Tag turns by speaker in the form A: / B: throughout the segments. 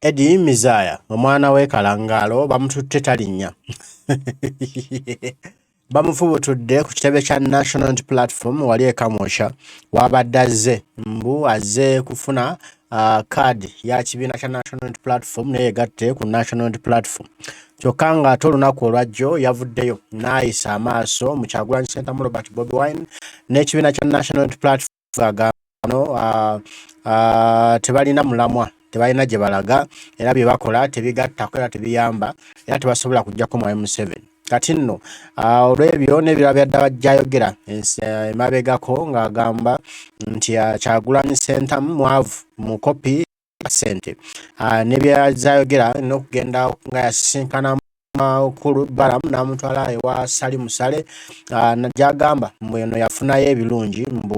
A: Eddie Mizaya omwana w'e Kalangaalo bamututte talinnya bamufubutudde ku kitebe kya National Unity Platform wali e Kamwokya w'abadde azze mbu azze kufuna kaadi uh, ya kibiina kya National Unity Platform naye yegatte ku National Unity Platform kyokka ng'ate olunaku olwajjo yavuddeyo n'ayisa amaaso mu Kyagulanyi Ssentamu Robert Bobi Wine n'ekibiina kya National Unity Platform agambano ah, ah, tebalina mulamwa tebalina gye balaga era bye bakola tebigattako era tebiyamba era tebasobola kujjako mwayi museveni kati nno ah, olw'ebyo n'ebirala byadda bajjayogera eh, emabegako ng'agamba nti kyagulanyi sentamu mwavu mukopi sente ah, nebyazayogera nokugenda nga yasisinkana makulu balamu namutwala ewa sali musale ah, najagamba mbu eno yafunayo ebirungi mbu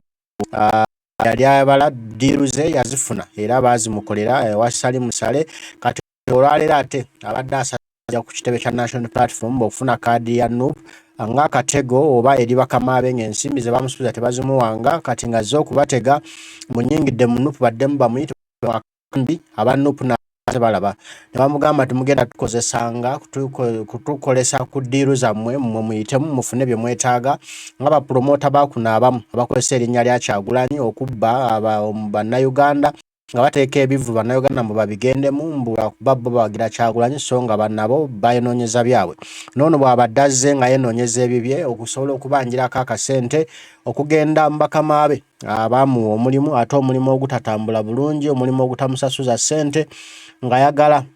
A: ah, yali abala diiru ze yazifuna era baazimukolera ewa sali musale kati olwaleero ate abadde asa ja ku kitebe kya National Platform okufuna kaadi ya NUP nga akatego oba eri bakamaabe ng'ensimbi ze bamusubiza tebazimuwanga kati ng'azze okubatega munyingidde mu NUP baddemu bamuyite mwakambi aba NUP na tebalaba ne bamugamba nti mugenda tukozesanga kutukolesa ku ddiiru zammwe mmwe muyitemu mufune bye mwetaaga nga bapulomoota bakuno abamu abakozesa erinnya lya kyagulanyi okubba bannayuganda nga bateeka ebivulu bannayuganda mbu babigendemu mbu lwakuba bo bawagira kyagulanyi so nga banabo bayononyeza byabwe noono bwabadde azze nga yenoonyeza ebibye okusobola okubanjirako akasente okugenda mubakama be abaamuwa omulimu ate omulimu ogutatambula bulungi omulimu ogutamusasuza ssente ng'ayagala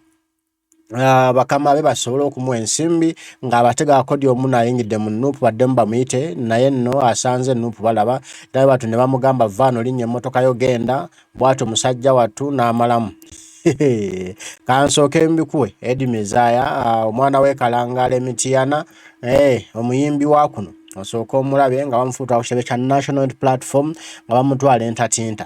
A: Ah, bakama be basobola okumuwa ensimbi ng'abatega akodi omu nayingidde mu nuupu baddemu bamuyite naye nno asanze nuupu balaba era batu ne bamugamba vaano linnya emmotoka yo genda bwatyo musajja wattu n'amalamu kansooke mbikuwe edi mizaya ah, omwana w'ekalangaala emitiyana eh, omuyimbi wa kuno osooka omulabe nga bamufuuta ku kitebe kya national platform nga bamutwala entatinta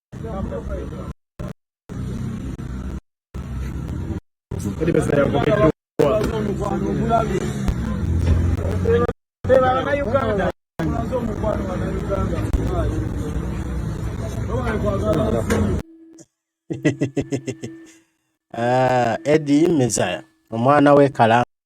A: Ah, Eddie Mezaya omwana w'e Kalamba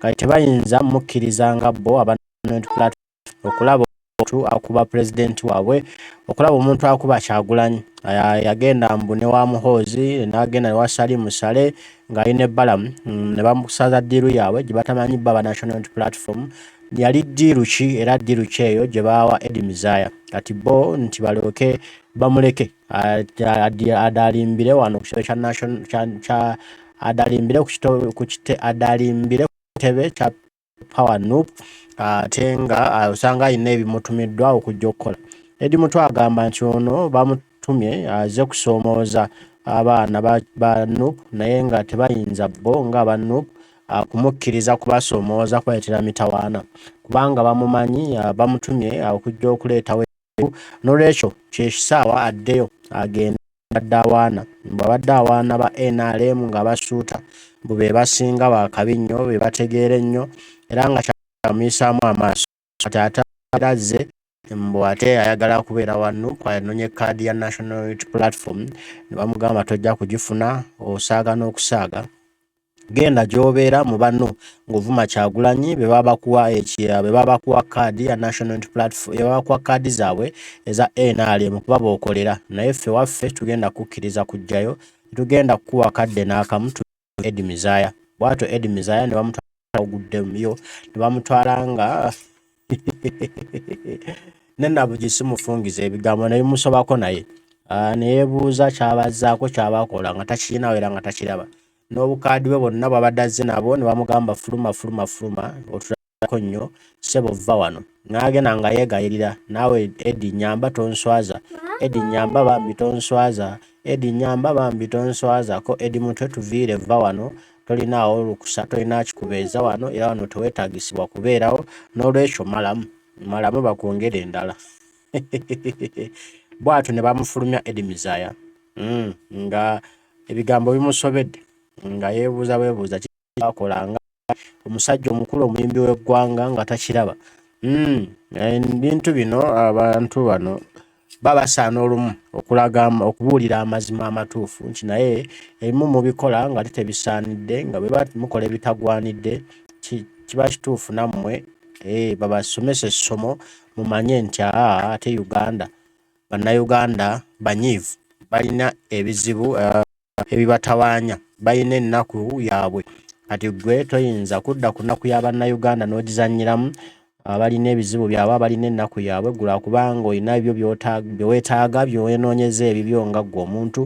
A: kati tebayinza mukkiriza nga bo okulaba omuntu akuba pulezidenti waabwe okulaba omuntu akuba kyagulanyi yagenda mbu ne wa muhoozi nagenda newa sali musale ng'ali ne balamu mm, ne bamusaza ddiiru yaabwe gye batamanyi baba national platform yali ddiiru ki era ddiiru ki eyo gye baawa edi mizaya kati bo nti balyoke bamuleke adalimbire wano ku kitebe kya national kya adalimbire ku kite adalimbire ku kitebe kya power nup ate nga osanga alina ebimutumiddwa okujja okukola edi mutu agamba nti ono bamutumye aze kusoomooza abaana ba nup naye nga tebayinza bo nga aba nup kumukkiriza kubasoomooza kubaletera mitawaana kubanga bamumanyi bamutumye okujja okuleetawo ebimu nolwekyo kyekisaawa addeyo agende abadde awaana mbu abadde awaana ba nrm nga basuuta mbu bebasinga bakabi nnyo bebategeera ennyo era nga kyamuyisaamu amaaso kati ate era azze mbu ate ayagala kubeera wa nup anonye kaadi ya national unity platform ne bamugamba tojja kugifuna osaaga n'okusaaga genda gyobeera mu banno ng'ovuma kyagulanyi bebabakuwa ekiya bebabakuwa kaadi ya national platform bebabakuwa kaadi zaabwe eza nrm kuba bokolera naye ffe waffe tugenda kukkiriza kujjayo tugenda kukuwa kadde n'akamu edi mizaya bwatyo edi mizaya ne bamutwala oguddeyo ne bamutwala nga nenabugi simufungiza ebigambo naye musobako naye ah, neyebuuza kyabazaako kyabakola nga takirinawo era nga takiraba n'obukaadi bwe bonna bwabadde azze nabo ne bamugamba fuluma fuluma fuluma otulako nnyo sebo vva wano n'agenda nga yeegayirira naawe edi nyamba tonswaza edi nyamba bambi tonswaza edi nyamba bambi tonswazako edi mutwe tuviire vva wano tolinaawo lukusa tolina kikubeeza wano era wano tewetagisibwa kubeerawo n'olwekyo malamu malamu bakwongere endala bwatyo ne bamufulumya edimizaya mm, nga ebigambo bimusobedde nga yebuuza bwebuuza kyakolanga omusajja omukulu omuyimbi w'eggwanga nga takiraba mm, ebintu bino abantu bano baba basaana olumu okulaga okubuulira amazima amatuufu nti naye ebimu mubikola nga tebisaanidde nga bwe mukola ebitagwanidde kiba kituufu nammwe eh, babasomesa essomo mumanye nti aa ate uganda bannayuganda banyiivu balina ebizibu eh, ebibatawaanya balina ennaku yaabwe kati ggwe toyinza kudda ku nnaku ya bannayuganda n'ogizannyiramu abalina ebizibu byabwe abalina ennaku yaabwe gula kubanga olina ebyo bye weetaaga bye weenoonyeza ebibyo nga ggwe omuntu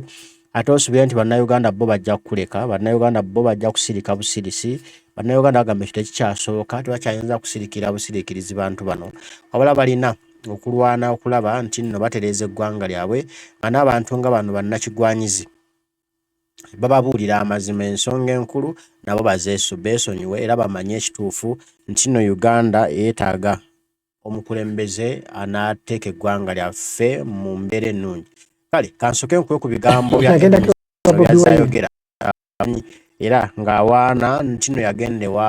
A: ate osubire nti bannayuganda bo bajja kukuleka bannayuganda bo bajja kusirika busirisi bannayuganda bagamba ekyo tekikyasoboka tebakyayinza kusirikira busiriikirizi bantu bano wabula balina okulwana okulaba nti nno batereeza eggwanga lyabwe nga n'abantu nga bano bannakigwanyizi bababuulira amazima ensonga enkulu nabo bazeesu beesonyiwe era bamanye ekituufu nti nno Uganda yeetaaga omukulembeze anaateeka eggwanga lyaffe mu mbeera ennungi kale kansoke nkuwe ku bigambo byayogera amanyi era ng'awaana nti no yagenda ewa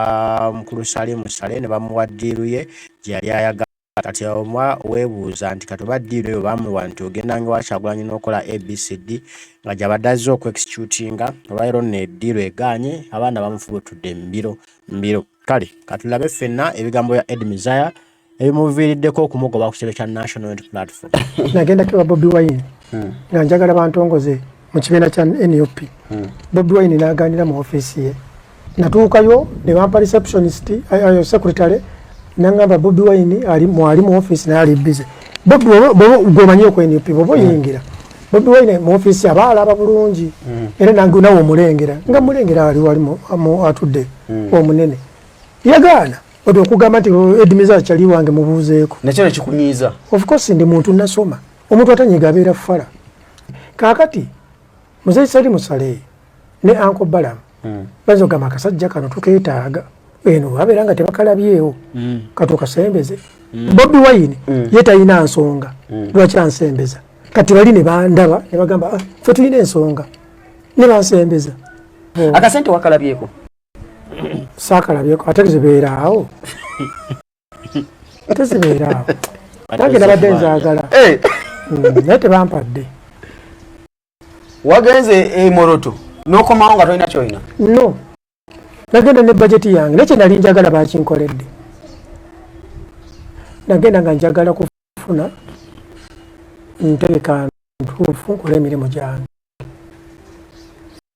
A: mukulu Salimu Sale ne bamuwa ddiiru ye gye yali ayagala kati oba weebuuza nti kati oba ddiiru eyo baamuwa nti ogendanga ewa Kyagulanyi n'okola ABCD nga gy'abadde azze okwexecutinga olwaleero nno eddiiru egaanye abaana bamufubutudde mbiro mbiro kale katulabe ffenna ebigambo bya Ed Mizaya ebimuviiriddeko okumugoba ku kitebe kya national unity platform nagenda kiwa bobi
B: wine hmm. nga njagala bantongoze mu kibiina kya nup hmm. bobi wine naganira mu ofiisi ye natuukayo ne bampa receptionist ayo secretary nangamba bobi wine ali mwali mu ofiisi naye ali bize bobi gwemanyi oku nup boba hmm. oyingira bobi wine mu ofiisi aba alaba bulungi era nange nawe omulengera nga mulengera ali wali atudde omunene yagaana Odo okugamba nti oh, Edmiza chali wange mubuzeeko. Na chana chikunyiza.
C: Of course ndi muntu
B: nasoma. Omuntu atanyiga abera fala. Kakati Mzee Sali Musale ne Anko Balam. Mm. Bazo gama kasajja kano tuketaaga. Eno wabera nga tebakalabyewo. Mm. Katoka sembeze. Mm. Bobby Wine mm. yeta ina nsonga. Mm. Lwacha ansembeza. Kati bali ne bandaba ne bagamba ah, fe tulina ensonga. Ne bansembeza. Mm. Akasente
C: wakalabyeko.
B: saakalabyeko ate zibeera
C: awo
B: ate zibeera awo nange nabadde nzaagala eh. hmm, naye tebampadde
C: wagenze emoroto nokomawo nga tolina kyolina no
B: nagenda ne bajeti yange naye kyenali njagala bakinkoledde nagenda nga njagala kufuna ntegeka ntuufu nkola emirimu gyange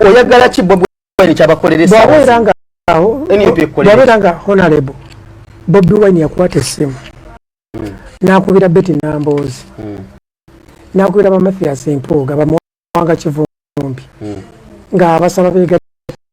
C: oyagala ki bobi wine kyabakolera esawawabeera
B: nga honarable bobi wine yakwata essimu hmm. nakubira beti namboozi hmm. nakubira bamathias mpuuga bamuwanga kivumbi hmm. nga abasaba begatta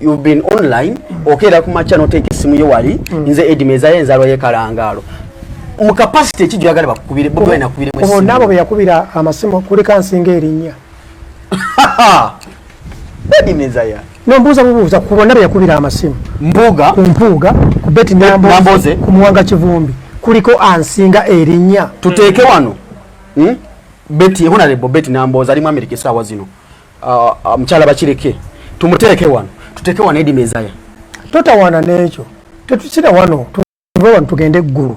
C: you've been online okeera ku makya noteeka essimu yo wali mm. nze edima ezayo enzalwa yekalangaalo mu kapasite ekijjo yagala bakukubire bobi nakubire mu naabo be yakubira
B: amasimu kulika nsinga erinnya
C: edima ezaya nombuuza bubuuza ku
B: bonna be yakubira amasimu mbuuga ku mpuuga
C: ku
B: beti namboze ku muwanga kivumbi kuliko ansinga erinnya tuteeke wano
C: hmm? beti honarebo beti namboze ali mu amerika esaawa zino Ah, ah, mukyala bakireke tumuteeke wano tuteeke wano edi mezaya totawaana
B: n'ekyo tetukira wano tuve wano tugende eggulu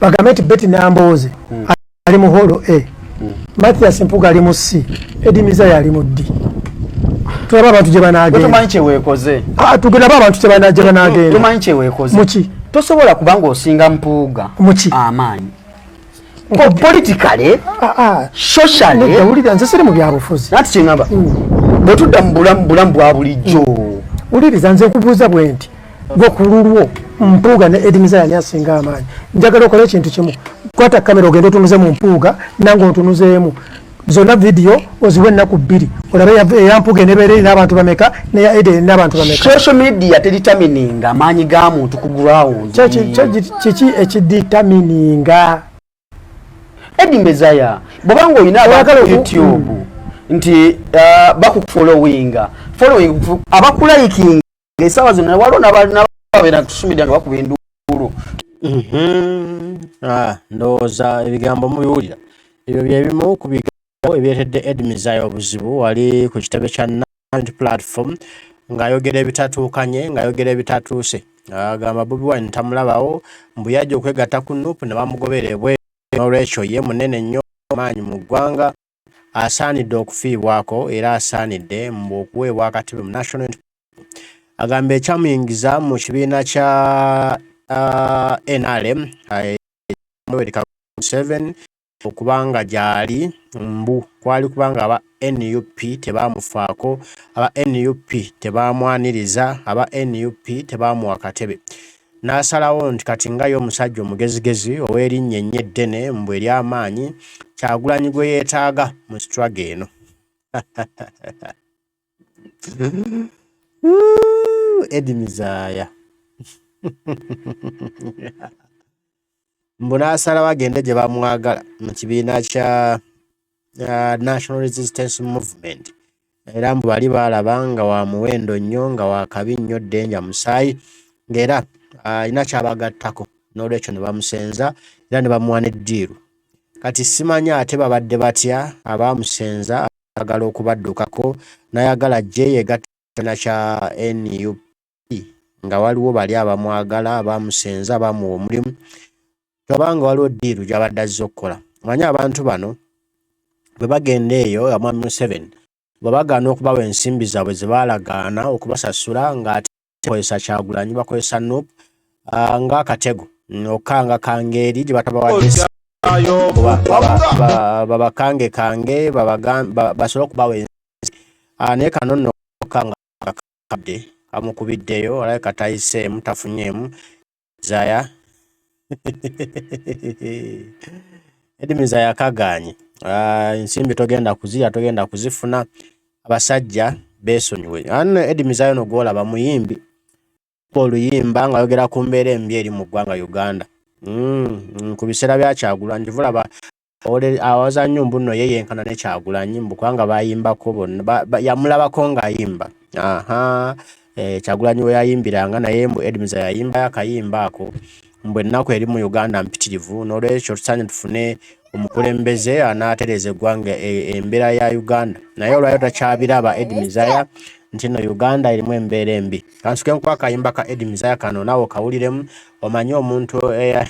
B: bagambe nti beti nambooze hmm. ali mu holo e hmm. mathias mpuga ali mu c edi mezaya ali mu d tulaba abantu gye banagenda
C: ah, tugendabe abantu
B: gye banagendamuki
C: tosobola
B: kubanga
C: osinga mpuuga amaanyi Oh, politically ah, ah. socially wulira nze siri mu
B: byabufuzi nati kyengamba hmm.
C: bwe tudda mu bulamu bulamu bwa bulijjo hmm. wuliriza nze
B: nkubuuza bwe nti gwe ku lulwo mpuuga ne edimiza yani asinga amaanyi njagala okola ekintu kimu kwata kamera ogenda otunuze mu mpuuga nange ontunuzeemu zona video oziwe ennaku bbiri olabe eyampuga enebeera erina abantu bameka neya ede erina abantu bameka social media
C: teditamininga amaanyi ga muntu ku ground kiki
B: ekiditamininga
C: edi mezaya bwoba nga olina abantu youtube nti uh, bakukufolowinga following abakulayikinga esawa zino waliwo nababeera tusumidde nga bakuba enduulu mhm. ah,
A: ndowooza ebigambo mubiwulira ebyo byebimu ku bigambo ebiretedde edmisaya obuzibu wali ku kitebe kya nant platform ng'ayogera ebitatuukanye ng'ayogera ebitatuuse agamba bobi wine tamulabawo mbu yajja okwegatta ku nup ne bamugobera ebweru n'olwekyo ye munene nnyo amaanyi mu ggwanga asaanidde okufiibwako era asaanidde mbu okuweebwa akatebe mu national agamba ekyamuyingiza mu kibiina kya uh, nrm Museveni okubanga gyali mbu kwali kubanga aba nup tebaamufaako aba nup tebaamwaniriza aba nup tebaamuwa katebe N'asalawo nti kati nga ye omusajja omugezigezi ow'erinnya ennyo eddene, mbu ery'amaanyi, Kyagulanyi gwe yeetaaga mu struggle eno. Eddy Mizaaya. mbu n'asalawo agende gye bamwagala mu kibiina kya uh, national resistance movement era mbu bali baalaba nga wa muwendo nnyo nga wakabi nnyo ddenja musaayi ng'era uh, alina kyabagattako n'olwekyo ne bamusenza era ne bamuwa n'eddiiru kati simanya ate babadde batya abaamusenza agala okubaddukako nayagala jeyegata na kya nup nga waliwo bali abamwagala bamusenza bamuwa omulimu toba nga waliwo diiru gyabadde azze okukola manye abantu bano bwe bagenda eyo nga mwami museven bwe bagaana okubawa ensimbi zaabwe ze baalagaana okubasasula ng'ate bakozesa kyagulanyi bakozesa nup ah, ng'akatego okukanga kangeeri gye batabawadde babakange kange basobole okubawa ensi ah, naye kano nno okukanga abadde amukubiddeyo alabika tayiseemu tafunyeemu zaya edimi zaya kagaanye ah, ensimbi togenda kuzirya togenda kuzifuna abasajja beesonyiwe ano edimi zaya no gwolaba muyimbi oluyimba ng'ayogera ku mbeera embi eri mu ggwanga uganda mm, mm, ku biseera byakyagula njivulaba awaza nnyo mbu nno ye yenkana ne kyagulanyi mbu kubanga bayimbako bonna yamulabako ng'ayimba aha eh, kyagulanyi we yayimbiranga naye mbu edmiza yayimbayo akayimba ako mbu ennaku eri mu uganda mpitirivu n'olwekyo tusaanye tufune omukulembeze anaatereza eggwanga e, embeera ya uganda naye olwayo takyabiraba edmizaya nti no uganda erimu embeera embi kansuke nkuba akayimba ka edmizaya kano naawe okawuliremu omanye omuntu eya eh,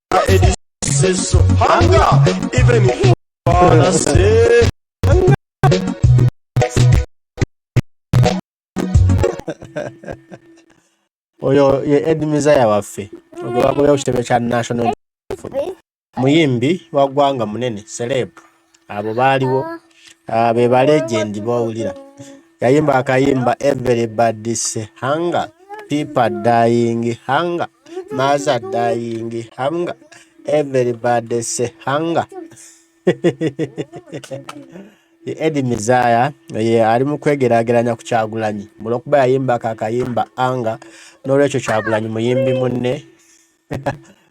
D: Eddie say so. Hunger, even if
A: you wanna say. oyo ye ed mizaya waffe ogwebagobya ku kitebe kya national muyimbi wa ggwanga munene celeb abo baaliwo ah, be ba legend bowulira yayimba akayimba everybody say hunger people dying hunger mother dying hunger everybody say hunger Eddie Mizaya ye ali mu kwegerageranya ku Kyagulanyi olwokuba yayimbako akayimba anga n'olwekyo Kyagulanyi muyimbi munne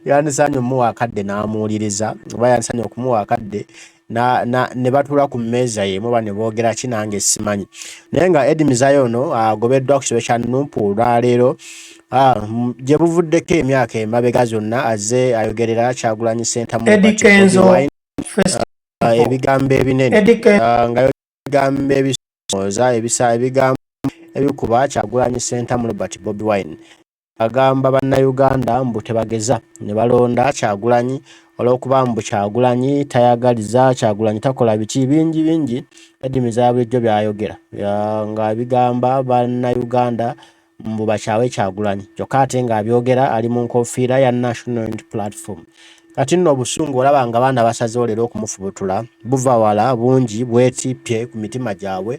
A: yandisaanye omuwa akadde n'amuwuliriza oba yandisaanye okumuwa akadde ne batuula ku mmeeza yemu oba ne boogera ki nange simanyi naye nga edi mizayo ono agobeddwa ku kitebe kya nupu olwaleero gye buvuddeko emyaka emabega zonna azze ayogerera kyagulanyi sentamu ebigambo ebinene nga ebigambo ebisooza ebigambo ebikuba kyagulanyi sentamu robert bobi wine Agamba bannayuganda mbu tebageza ne balonda Kyagulanyi olw'okuba mbu Kyagulanyi tayagaliza, Kyagulanyi takola biki bingi bingi Eddy Mizaya bulijjo by'ayogera nga bigamba bannayuganda mbu bakyawe Kyagulanyi kyokka ate ng'abyogera ali mu nkofiira ya National Unity Platform. Kati nno obusungu olaba nga baana basazeewo leero okumufubutula buva wala bungi bwetippye ku mitima gyabwe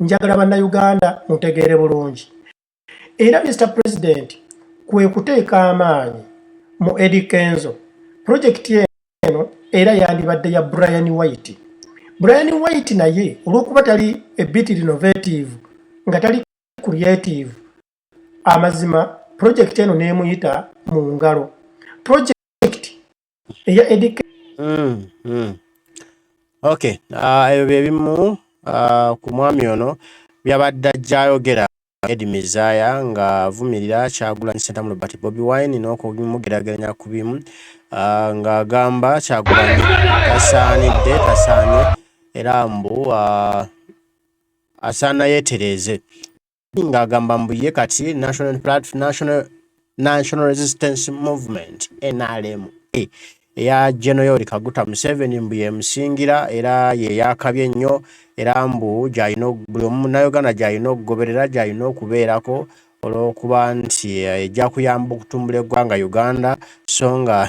B: njagala bannayuganda mutegeere bulungi era Mister President kwe kuteeka amaanyi mu Eddy Kenzo pulojekiti eno era yandibadde ya Brian White. Brian White naye olw'okuba tali a bit innovative nga tali creative amazima pulojekiti eno n'emuyita mu ngalo. eya edk mm, mm.
A: Okay, ah, ebyo bye bimu ah, ku mwami ono byabadde ajja ayogera Edi Mizaya ng'avumirira Kyagulanyi Ssentamu Robert Bobi Wine n'okumugeraageranya ku bimu ah, ng'agamba Kyagulanyi tasaanidde tasaanye era mbu ah, asaana yeetereeze. ng'agamba mbu ye kati national platform national national resistance movement nrm e, eya genoyori kaguta museveni mbu yemusingira era yeyakabye ennyo era mbu gyalina buli omu munauganda gyalina okugoberera gyalina okubeerako olwokuba nti eh, ejja kuyamba okutumbula eggwanga uganda so nga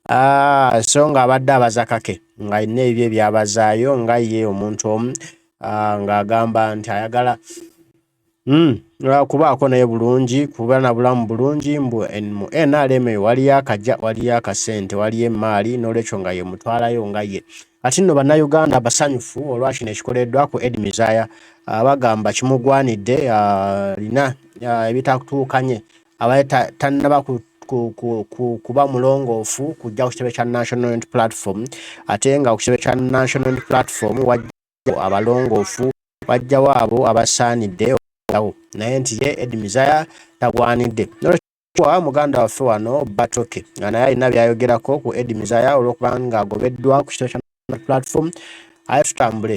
A: Ah, so nga abadde abaza kake nga alina ebyo ebyabazaayo nga ye omuntu omu ah, ng'agamba nti ayagala mm, kubaako naye bulungi kuba na bulamu bulungi mbu mu nrm eyo waliyo akaja waliyo akasente waliyo emaali n'olwekyo nga ye mutwalayo nga ye ati nno bannayuganda basanyufu olwa kino ekikoleddwa ku ed mizaya ah, bagamba kimugwanidde alina ah, ah, ebitakutuukanye abadde tannaba ku kuba mulongoofu kujja ku kitebe kya national unit platform ate nga ku kitebe kya national unit platform wajjao abalongoofu wajjawo abo abasaanidde oawo naye nti ye edmisire tagwanidde nolwa muganda waffe wano batoke nga naye alina byayogerako ku edmisire olwokuba nga agobeddwa ku kitebe kya platform aye tutambule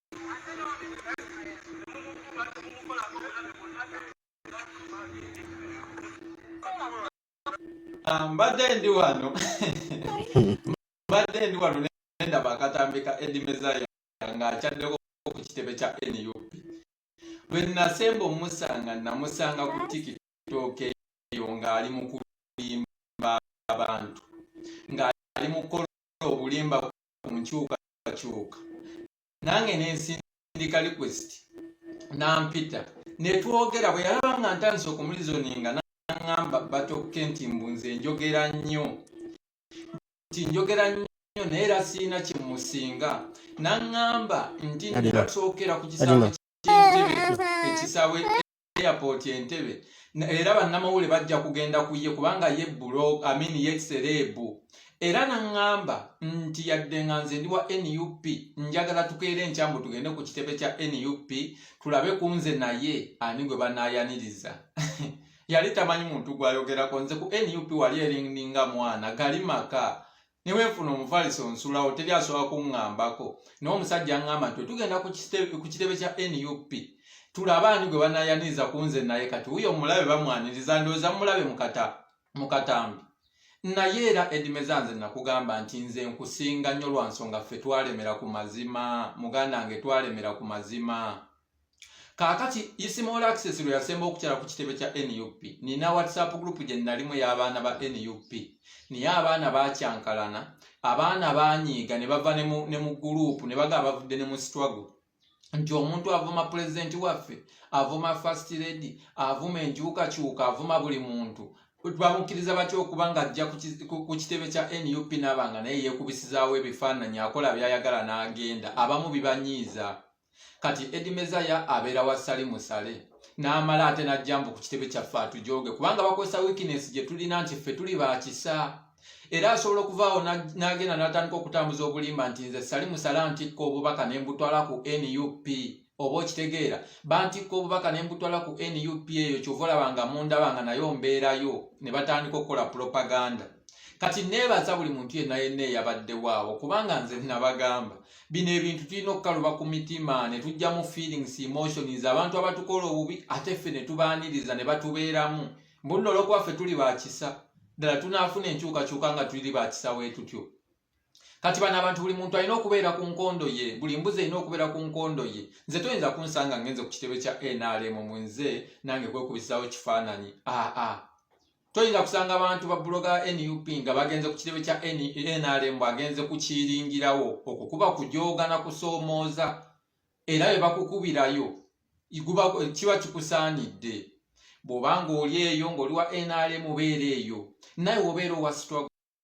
E: Ah, mbadde ndi wano mbadde ndi wano nendaba akatambika edimezaya nga akyaddeko ku kitebe kya nup lwe nasemba omusanga namusanga ku tiktok eyo ng'ali mu kulimba abantu ng'ali mu kukola obulimba ku nkyukakyuka nange nensindika request nampita netwogera bwe yalaba nga ntandise okumulizoninga naŋamba batokke nti mbu nze njogera nnyo nti njogera nnyo naye era sirina kyemusinga naŋamba nti nsookera ku kisaawe kyentebe ekisaawe airport entebe era bannamawule bajja kugenda ku ye kubanga ye bulo amini ye sereebu era naŋŋamba nti yadde nga nze ndi wa nup njagala tukeera enkyambu tugende ku kitebe kya nup tulabe ku nze naye ani gwe banaayaniriza yali tamanyi muntu gwayogerako nze ku nup wali erininga mwana gali maka neweefuna omufalisi onsulawo teri asobola kuŋŋambako naye omusajja aŋŋamba nti tugenda ku kitebe kya nup tulaba ani gwe banayaniriza ku nze naye kati wuyo omulabe bamwaniriza ndowooza mulabe mu katambi naye era edimeza nze nakugamba nti nze nkusinga nnyo lwa nsonga ffe twalemera ku mazima muganda nge twalemera ku mazima kaakati isimol access lwe yasemba okukyala ku kitebe kya nup nina whatsapp group gye nalimu ey'abaana ba nup naye abaana bakyankalana abaana banyiiga ne bava ne mu gurupu ne baga bavudde ne mu struggle nti omuntu avuma pulezidenti waffe avuma first lady avuma enkyukakyuka avuma buli muntu bamukkiriza batya okuba nga ajja ku kitebe kya nup naba nga naye yekubisizaawo ebifaananyi akola byayagala n'agenda abamu bibanyiiza kati edi mezaya abeera wa sali musale n'amala ate n'ajjambu ku kitebe kyaffe atujooge kubanga bakozesa wikinesi gye tulina nti ffe tuli bakisa era asobola okuvaawo n'agenda n'atandika okutambuza obulimba nti nze sali musala ntikka obubaka ne mbutwala ku nup oba okitegeera bantikka obubaka ne mbutwala ku nup eyo kyova olaba nga mundaba nga nayo mbeerayo ne batandika okukola propaganda kati neebaza buli muntu yenna yenna eyabaddewo awo kubanga nze nabagamba bino ebintu tulina okukaluba ku mitima ne tujja mu feelings emotions abantu abatukola obubi ate ffe ne tubaaniriza ne batubeeramu mbunno olwokuba ffe tuli bakisa ddala tunaafuna enkyukakyuka nga tuli bakisa weetutyo kati bano abantu buli muntu alina okubeera ku nkondo ye buli mbuzi erina okubeera ku nkondo ye nze toyinza kunsanga ngenze ku kitebe kya nrm mu nze nange kwekubisaawo kifaananyi aa ah, ah. toyinza kusanga abantu ba buloga nup nga bagenze ku kirebe kya nrm agenze kukiringirawo okwo kuba kujoogana kusoomooza era bwe bakukubirayo kiba kikusaanidde bw'oba ng'oli eyo ng'oli wa nrm obeera eyo naye obeera owa struggle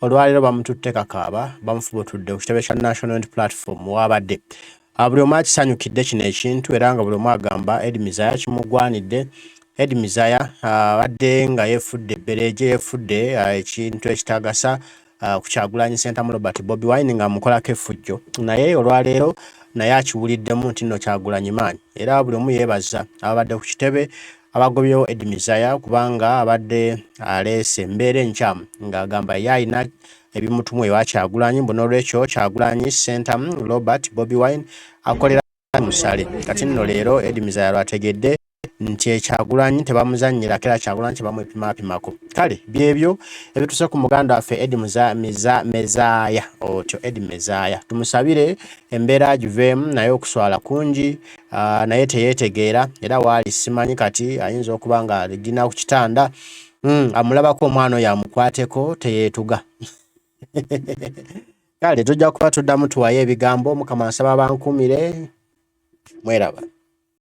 A: Olwaleero bamututte kakaaba bamufubutudde ku kitebe kya National Unity Platform waabadde ah, buli omu akisanyukidde kino ekintu era nga buli omu agamba Ed Mizaya kimugwanidde. Ed Mizaya ah, abadde nga yeefudde ebbereeje, yeefudde ah, ekintu ekitagasa ku Kyagulanyi Ssentamu Robert Bobi Wine nga amukolako effujjo, naye olwaleero naye akiwuliddemu nti nno Kyagulanyi maanyi era buli omu yeebaza ababadde ku kitebe abagobyewo Ed Mizaya kubanga abadde aleese embeera enkyamu ng'agamba ye alina ebimutumwa ewa Kyagulanyi mbu n'olwekyo Kyagulanyi Ssenta Robert Bobi Wine akolera musale kati nno leero Ed Mizaya lwategedde nti ekyagulanyi tebamuzannyira kera kyagulanyi tebamwepimaapimako kale byebyo ebituse ku muganda waffe edi mezaaya otyo edi mezaaya tumusabire embeera giveemu naye okuswala kungi uh, naye teyetegeera era waali simanyi kati ayinza okuba nga ligina ku kitanda mm, amulabako omwana oyo amukwateko teyeetuga kale tujja kuba tuddamu tuwayo ebigambo mukama nsaba bankuumire mweraba